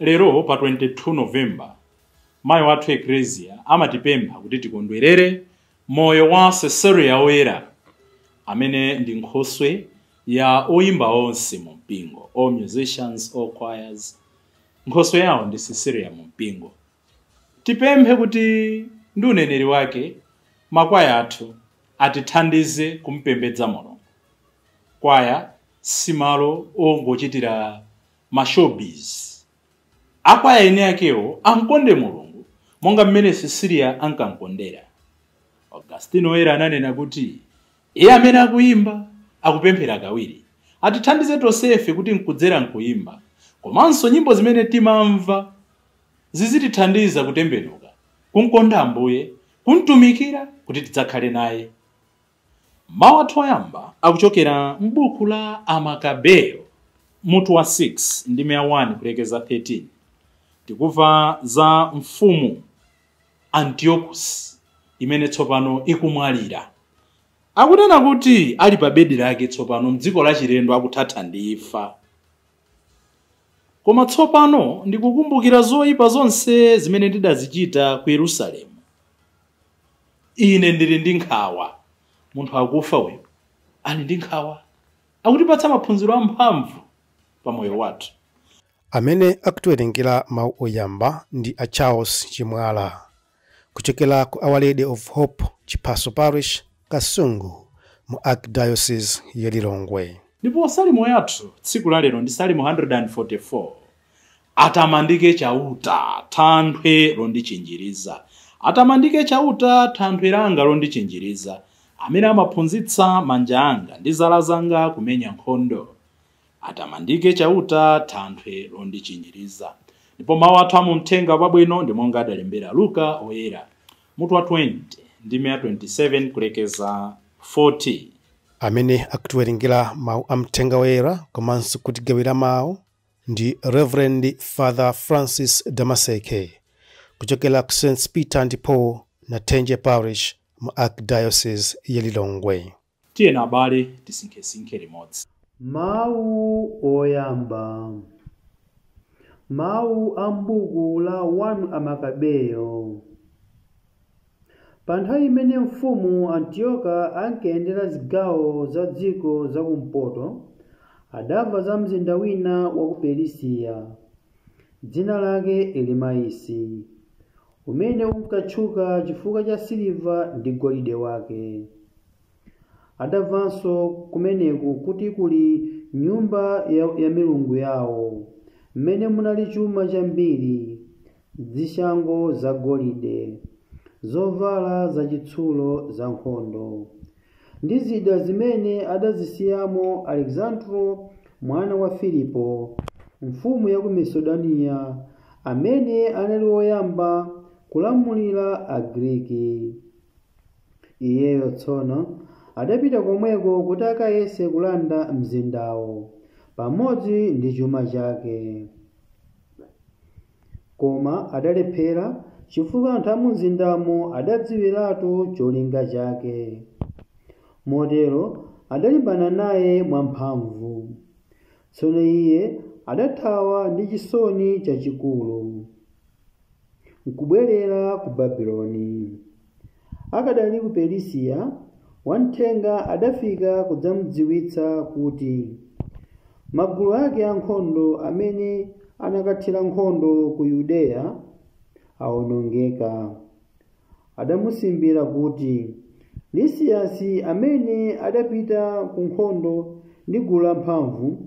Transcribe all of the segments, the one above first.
Lero pa 22 November, Mayi wathu Eklezia amatipempha kuti tikondwerere moyo wa Cecilia Woyera amene ndi nkhoswe ya oyimba onse mu mpingo, all musicians, all choirs, nkhoswe yawo ndi Cecilia mu mpingo. Tipemphe kuti ndi uneneri wake makwaya athu atithandize kumpembedza Mulungu. Kwaya si malo ongochitira ma show biz. Akwaya eni akewo amkonde Mulungu monga mmene Cecilia ankamkondera. Augustino Woyera ananena kuti, Iye amene akuyimba, akupemphera kawiri. Atithandize tonsefe kuti nkudzera m'kuyimba, komanso nyimbo zimene timamva zizitithandiza kutembenuka, kumkonda Ambuye, kumtumikira kuti tidzakhale naye. Mawu athu oyamba akuchokera m'buku la Amakabeyo, mutu wa 6 ndime ya 1 kulekeza 13. Tikuva za mfumu Antiokusi imene tsopano ikumwalira. Akunena kuti ali pa bedi lake tsopano m'dziko lachilendo akuthatha ndi imfa. Koma tsopano ndikukumbukira zoipa zonse zimene ndidazichita ku Yerusalemu. ine ndili ndi nkhawa munthu akufa uyu ali ndi nkhawa akutipatsa maphunziro amphamvu pa moyo wathu amene akutiwerengera mawu oyamba ndi a charles chimwala kuchokera ku our lady of hope chiphaso parish kasungu mu archdiocese ya lilongwe ndipo salimo yathu tsiku la lero ndi salimo 144 Atamandike Chauta, thanthwe londichinjiriza. Atamandike Chauta, thanthwe langa londichinjiriza, amene amaphunzitsa manja anga ndi zala zanga kumenya nkhondo. Atamandike Chauta, thanthwe londichinjiriza. Ndipo mawu athu a mu Mthenga Wabwino ndi monga adalembera Luka Woyera, mutu wa 20 ndime ya 27 kulekeza 40. Amene akutiwerengera mawu a Mthenga Woyera komanso kutigawira mawu Ndi Rev. Father Francis Damaseke kuchokera ku Saints Peter and Paul, Nathenje Parish mu Archdiocese ya Lilongwe. Tiyeni abale tisinkhesinkhe limodzi. Mawu oyamba. Mawu a m'buku la 1 Amakabeyo. Pa nthawi imene mfumu Antiyoka ankayendera zigawo za dziko za kumpoto, adamva za mzinda wina wa ku Perisiya, dzina lake Elimaisi, umene unkatchuka chifukwa cha siliva ndi golide wake. Adamvanso kumeneku kuti kuli nyumba ya milungu yawo, mmene munali chuma chambiri, zishango zagolide, zovala zachitsulo zankhondo, ndi zida zimene adazisiyamo Aleksandro mwana wa Filipo, mfumu ya ku Masedoniya, amene anali woyamba kulamulira Agriki. Iyeyo tsono adapita komweko kuti akayese kulanda mzindawo, pamodzi ndi chuma chake. Koma adalephera chifukwa anthu amumzindamo adadziwiratu cholinga chake. Motero adalimbana naye mwamphamvu. Tsono iye adathawa ndi chisoni chachikulu. nkubwerera ku Babiloni. Akadali ku Perisiya, wamthenga adafika kudzamudziwitsa kuti magulu ake ankhondo amene anakathira nkhondo ku Yudeya awonongeka. Adamusimbira kuti Lisiyasi amene adapita ku nkhondo ndi gulu lamphamvu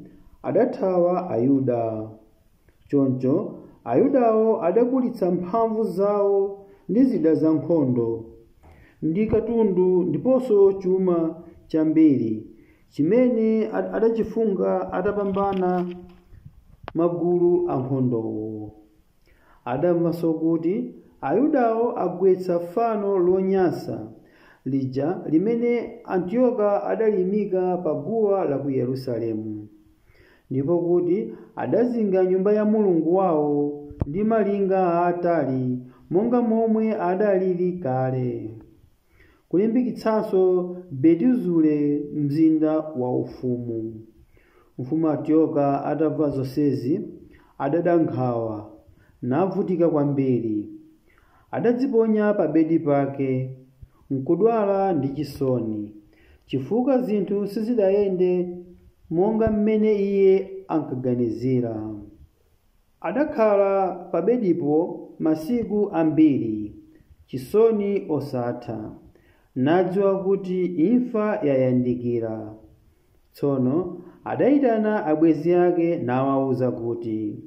adathawa Ayuda. Choncho Ayudawo adakulitsa mphamvu zawo ndi zida zankhondo, ndi katundu ndiponso chuma chambiri chimene adachifunkha atapambana magulu ankhondowo. Adamvanso kuti Ayudawo agwetsa fano lonyansa lija limene Antiyoka adaliimika pa guwa la ku Yerusalemu. ndipo kuti adazinga nyumba ya Mulungu wawo ndi malinga aatali monga momwe adalili kale, kulimbikitsanso Betizure mzinda waufumu. Mfumu Antiyoka atamva zonsezi, adada nkhawa, navutika kwambiri. Adadziponya pabedi pake, nkudwala ndi chisoni, chifukwa zinthu sizidayende monga m'mene iye ankaganizira. Adakhala pabedipo masiku ambiri, chisoni osatha, nadziwa kuti imfa yayandikira. Tsono adaitana abwenzi ake nawauza kuti,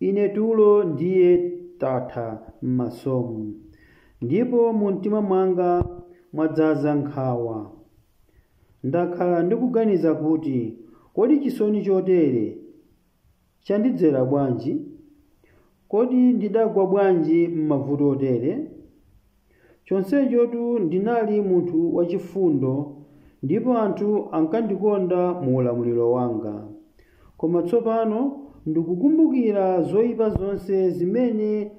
Ine tulo ndiye tatha m'masomu, ndipo mumtima mwanga mwadzaza nkhawa. Ndakhala ndikuganiza kuti, Kodi chisoni chotere chandidzera bwanji? Kodi ndidagwa bwanji m'mavuto otere? Chonsechotu ndinali munthu wachifundo ndipo anthu ankandikonda mu ulamuliro wanga. Koma tsopano ndikukumbukira zoipa zonse zimene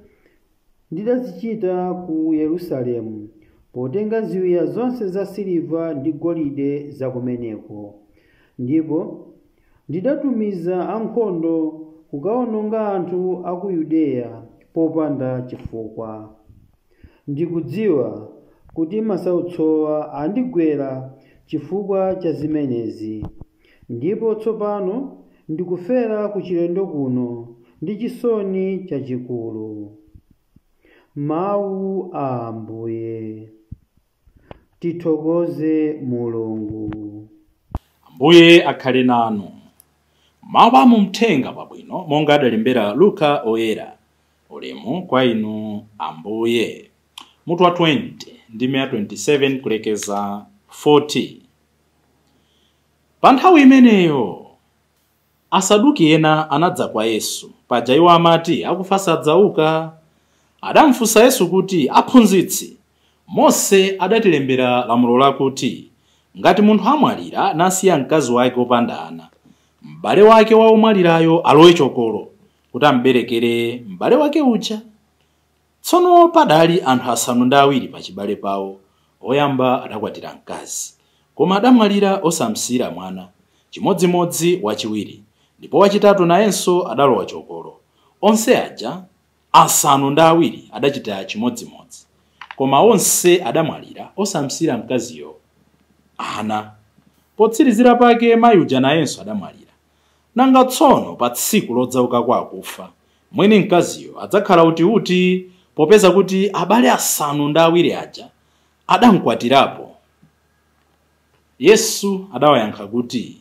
ndidazichita ku Yerusalemu, potenga ziwiya zonse zasiliva ndi golide zakumeneko, ndipo Ndidatumiza ankhondo kukaononga anthu a ku Yudeya popanda chifukwa. Ndikudziwa kuti masautsowa andigwera chifukwa cha zimenezi, ndipo tsopano ndikufera kuchilendo kuno ndi chisoni chachikulu. Mawu a Ambuye. Tithokoze Mulungu. Ambuye akhale nanu. Mawu a mu Mthenga wabwino monga adalembera Luka Oyera. Ulemu kwa Inu Ambuye. Mutu wa 20, ndime ya 27 kulekeza 40. Pa nthawi imeneyo Asaduki ena anadza kwa Yesu. Paja iwo amati, akufa sadzauka. Adamfunsa Yesu kuti, Aphunzitsi, Mose adatilembera lamulo lakuti, ngati munthu amwalira nasiya mkazi wake wopanda ana, mbale wake wa omwalirayo alowe chokolo, kuti amberekere mbale wake uja. Tsono padali anthu asanu ndi awiri pachibale pawo, woyamba adakwatira mkazi, koma adamwalira osamsiyira mwana, chimodzimodzi wachiwiri, ndipo wachitatu nayenso adalowa chokolo. Onse aja asanu ndi awiri adachita chimodzimodzi, koma onse adamwalira osamsiyira mkaziyo ana. Potsirizira pake mai uja nayenso adamwalira. Nanga tsono pa tsiku lodzauka kwa akufa, mwini mkaziyo adzakhala utiuti, popeza kuti abale asanu ndi awiri aja adamkwatirapo? Yesu adawayankha kuti,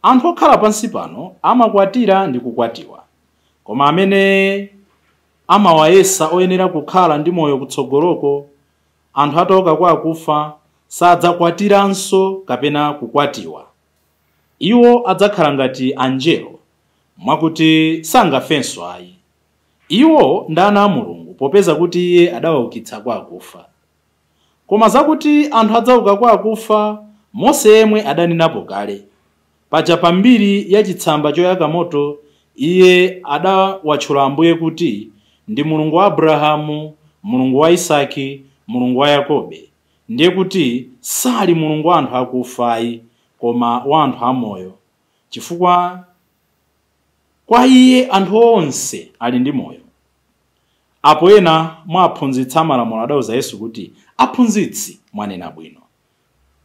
Anthu okhala pansi pano amakwatira ndi kukwatiwa, koma amene amawayesa oyenera kukhala ndi moyo kutsogoloko, anthu atauka kwa akufa, sadzakwatiranso kapena kukwatiwa. Iwo adzakhala ngati angelo, mwakuti sangafenso ayi. Iwo ndi ana a Mulungu, popeza kuti Iye adawaukitsa kwa akufa. Koma zakuti anthu adzauka kwa akufa, Mose yemwe adanenapo kale. Paja pa mbiri ya chitsamba choyaka moto, iye adawatchula Ambuye kuti ndi Mulungu wa Abrahamu, Mulungu wa Isaki, Mulungu wa Yakobe. ndiye kuti sali Mulungu wa anthu akufayi, koma wa anthu amoyo, chifukwa kwa Iye anthu onse ali ndi moyo. Apo ena mwa aphunzitsi amalamulo adauza Yesu kuti, Aphunzitsi, mwanena bwino.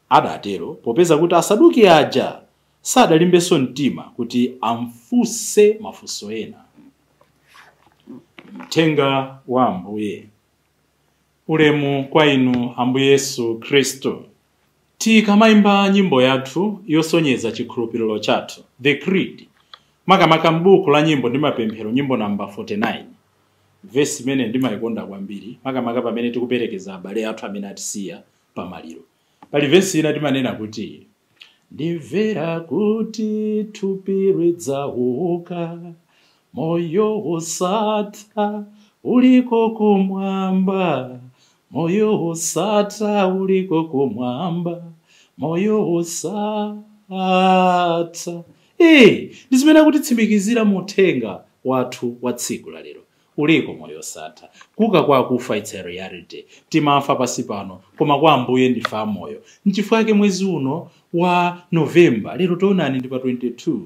Adatero, popeza kuti Asaduki aja sadalimbenso mtima kuti amfunse mafunso ena. Mthenga wa Ambuye. Ulemu kwa inu Ambuye Yesu Khristu. Tikamaimba nyimbo yathu yosonyeza chikhulupiriro chathu, The Creed, makamaka m'buku la nyimbo ndi mapemphero, nyimbo namba 49, vesi imene ndimaikonda kwambiri, makamaka pamene tikuperekeza abale athu amene atisiya pamaliro. Pali vesi ina timanena kuti ndimvera kuti thupi lidzauka moyo wosatha uliko kumwamba moyo wosatha uliko kumwamba moyo wosatha Eh, ndi zimene akutitsimikizira mu uthenga wathu wa tsiku la lero Uliko moyo osatha. Kuuka kwa akufa its a reality. Timafa pansi pano koma kwa Ambuye ndife amoyo. Nchifukwa chake mwezi uno wa November, lero tionani ndi pa 22,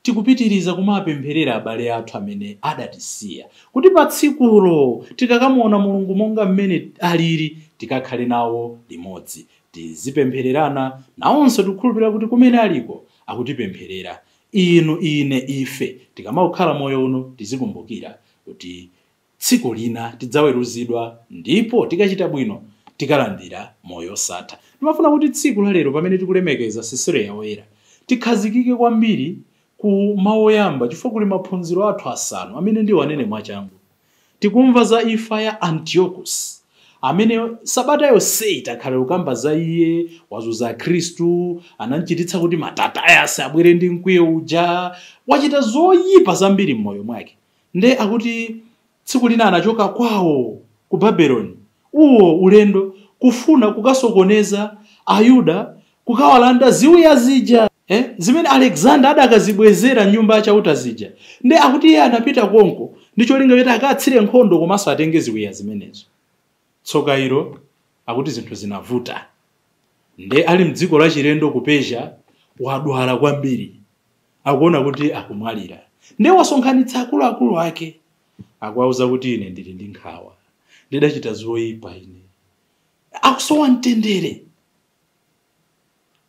tikupitiriza kumapempherera abale athu amene adatisiya kuti patsikulo tikakamuona Mulungu monga mmene aliri tikakhale nawo limodzi. Tizipemphererana nawonso tikukhulupirira kuti kumene aliko akutipempherera. Inu, ine, ife tikamakhala moyo uno, tizikumbukira kuti tsiku lina tidzaweruzidwa ndipo tikachita bwino tikalandira moyo osatha. Ndimafuna kuti tsiku la lero pamene tikulemekeza Sisiliya Woyera, tikhazikike kwambiri ku mau oyamba chifukwa kuli maphunziro athu asanu amene ndiwanene mwachangu. Tikumva za imfa ya Antiochus, amene sabata yonseyi takhala tikukamba za iye, wazunza Akhristu, anam'chititsa kuti Mattathias abwere ndi mkwiyo uja, wachita zoyipa zambiri m'moyo mwake. Ndiye akuti tsiku lina anachoka kwawo ku Babeloni, uwo ulendo, kufuna kukasokoneza Ayuda kukawalanda ziwiya zija, e, zimene Alexander adakazibwezera m'Nyumba ya Chauta zija. Nde akuti iye anapita konko ndi cholinga choti akatsire nkhondo komanso atenge ziwiya zimenezo. Tsoka ilo, akuti zinthu zinavuta. Nde ali m'dziko lachilendo ku Persia, wadwala kwambiri. Akuona kuti akumwalira. Nde wasonkhanitsa akuluakulu ake. Akuwauza kuti, Ine ndili ndi nkhawa. Ndidachita zoipa ine. Akusowa mtendere.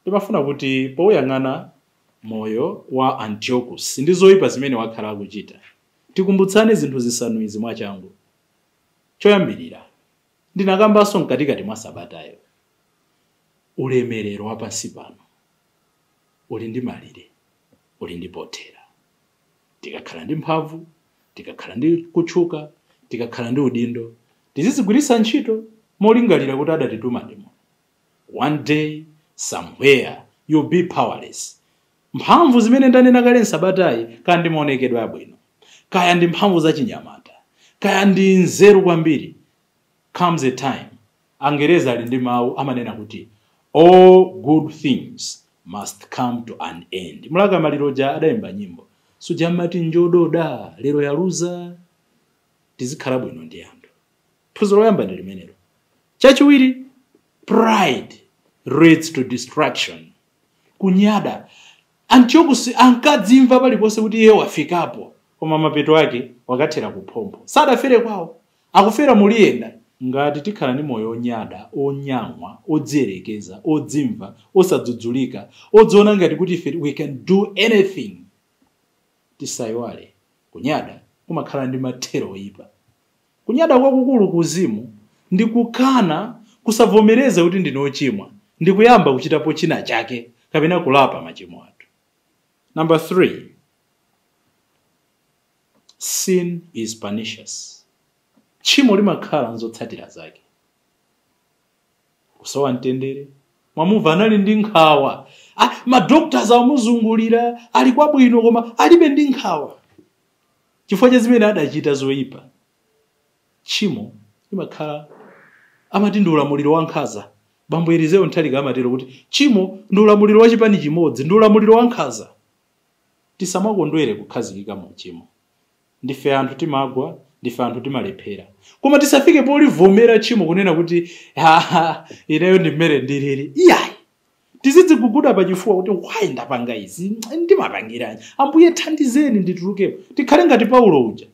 Ndimafuna kuti pouyang'ana moyo wa Antiochus ndi zoipa zimene wakhala akuchita, tikumbutsane zinthu zisanu izi mwachangu. Choyambirira, ndinakambanso mkatikati mwa sabatayo, ulemerero wa pansi pano uli ndi malire, uli ndi pothera. Tikakhala ndi mphamvu, tikakhala ndi kutchuka, tikakhala ndi udindo, tizizigwiritsa ntchito molingalira kuti adatituma ndi Mulungu. One day, somewhere, you'll be powerless. Mphamvu zimene ndanena kale m'sabatayi, kaya ndi maonekedwe abwino, kaya ndi mphamvu za chinyamata, kaya ndi nzeru kwambiri, comes a time, Angerezi ali ndi mawu amanena kuti, All good things must come to an end. Mlaka Maliro uja adayimba nyimbo, suja amati njododa lero yaluza? Tizikhala bwino ndi anthu. phunziro loyamba ndi limenelo chachiwiri pride leads to destruction kunyada Antiochus ankadzimva paliponse kuti iye wafikapo koma mapeto ake wakathera kuphompho sadafere kwawo akufera muliyenda ngati tikhala ndi moyo onyada onyang'wa odziyerekeza odzimva osadzudzulika odziona ngati kuti ife we can do anything tisayiwale kunyada kumakhala ndi mathero oyipa Kunyada kwakukulu ku uzimu ndi kukana, kusavomereza kuti ndine ochimwa ndi kuyamba kuchitapo china chake kapena kulapa machimo athu. Number 3, Sin is pernicious. Tchimo limakhala nzotsatira zake. Kusowa mtendere, mwamumva anali ndi nkhawa, ah, ma doctors amuzungulira, ali kwabwino koma alibe ndi nkhawa. chifukwa cha zimene adachita zoyipa. Tchimo limakhala amati ndi ulamuliro wankhanza. Bambo Elizeo Nthalika amatero kuti tchimo ndi ulamuliro wa chipani chimodzi, ndi ulamuliro wankhanza. Tisamakondwere kukhazikika mu uchimo. Ndife anthu timagwa, ndife anthu timalephera. Koma tisafike polivomera tchimo kunena kuti ha ha ineyo ndi mmene ndilili. Iyayi! Tizidziguguda pachifuwa kuti, Why ndapanga izi? Ndimapangiranji? Ambuye thandizeni nditulukemo. Tikhale ngati Paulo uja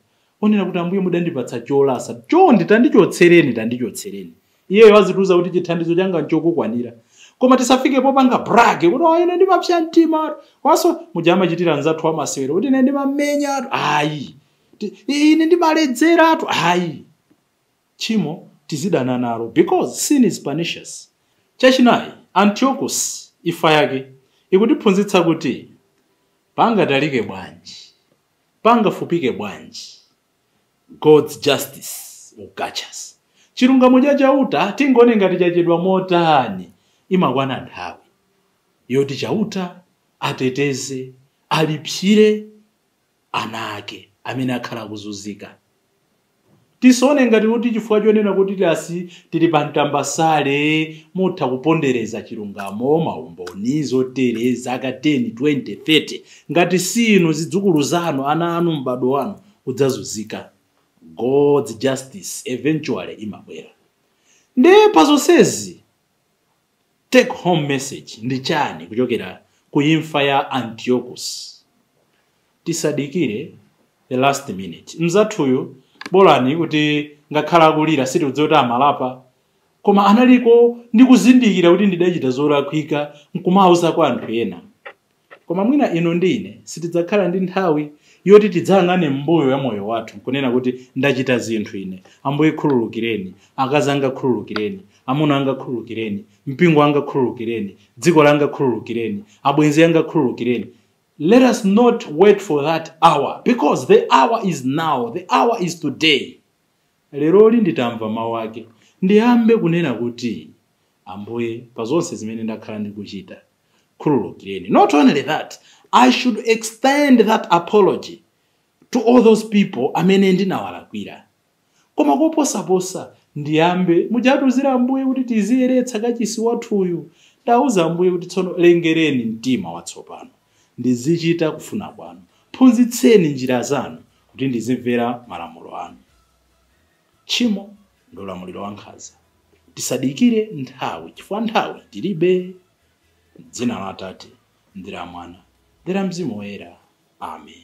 onena kuti, Ambuye mudandipatsa cholasa, chonde tandichotsereni, tandichotsereni. Iyeyo azitiuza kuti chithandizo changa nchokukwanira. Koma tisafike popanga brag kuti oh, ine ndimapsa mtima komanso muja amachitira anzathu amasewero kuti ine ndimamenyatu ayi ine ndimaledzeratu ayi tchimo tizidana nalo because sin is pernicious. Chachinayi, Antiochus imfa yake ikutiphunzitsa kuti pangatalike bwanji, pangafupike bwanji God's justice will catch us. Chilungamo cha Chauta tingaone ngati chachedwa motani, imakwana nthawi yoti Chauta ateteze, alipsire. ana ake amene akhala akuzunzika. Tisaone ngati kuti chifukwa chonena kuti tasi tili pa mtambasale mutha kupondereza chilungamo, maumboni, zotere, zaka 10, 20, 30. Ngati si inu, zidzukulu zanu, ana anu, m'badwo wanu udzazunzika. God's justice eventually imabwera. Ndiye pa zonsezi, Take home message ndi chani kuchokera ku imfa ya Antiochus? Tisadikire the last minute. Mnzathuyu bolani kuti ngakhale akulira sitikudziwa kuti amalapa koma analiko ndi kuzindikira kuti ndidachita zolakwika nkumauza kwa anthu ena. Koma mwina inu ndi ine sitidzakhala ndi nthawi yoti tidzayang'ane m'mbuyo ya moyo wathu kunena kuti ndachita zinthu ine, Ambuye khululukireni, akazi anga khululukireni, amuna anga khululukireni, mpingo wanga khululukireni, dziko langa khululukireni, abwenzi anga khululukireni. Let us not wait for that hour because the hour is now, the hour is today. Leroli nditamva mawu ake, ndiyambe kunena kuti, Ambuye, pa zonse zimene ndakhala ndikuchita, khululukireni not only that i should extend that apology to all those people amene ndinawalakwira koma koposaposa ndiyambe muja atiuzira ambuye kuti tiziyeretsa kachisi wathuyu ndauza ambuye kuti tsono lengereni mtima watsopano ndizichita kufuna kwanu phunzitseni njira zanu kuti ndizimvera malamulo anu Tchimo ndi ulamuliro wankhanza. Tisadikire nthawi chifukwa nthawi tilibe. M'dzina la Atate, ndi la Mwana, ndi la Mzimu Woyera. Amen.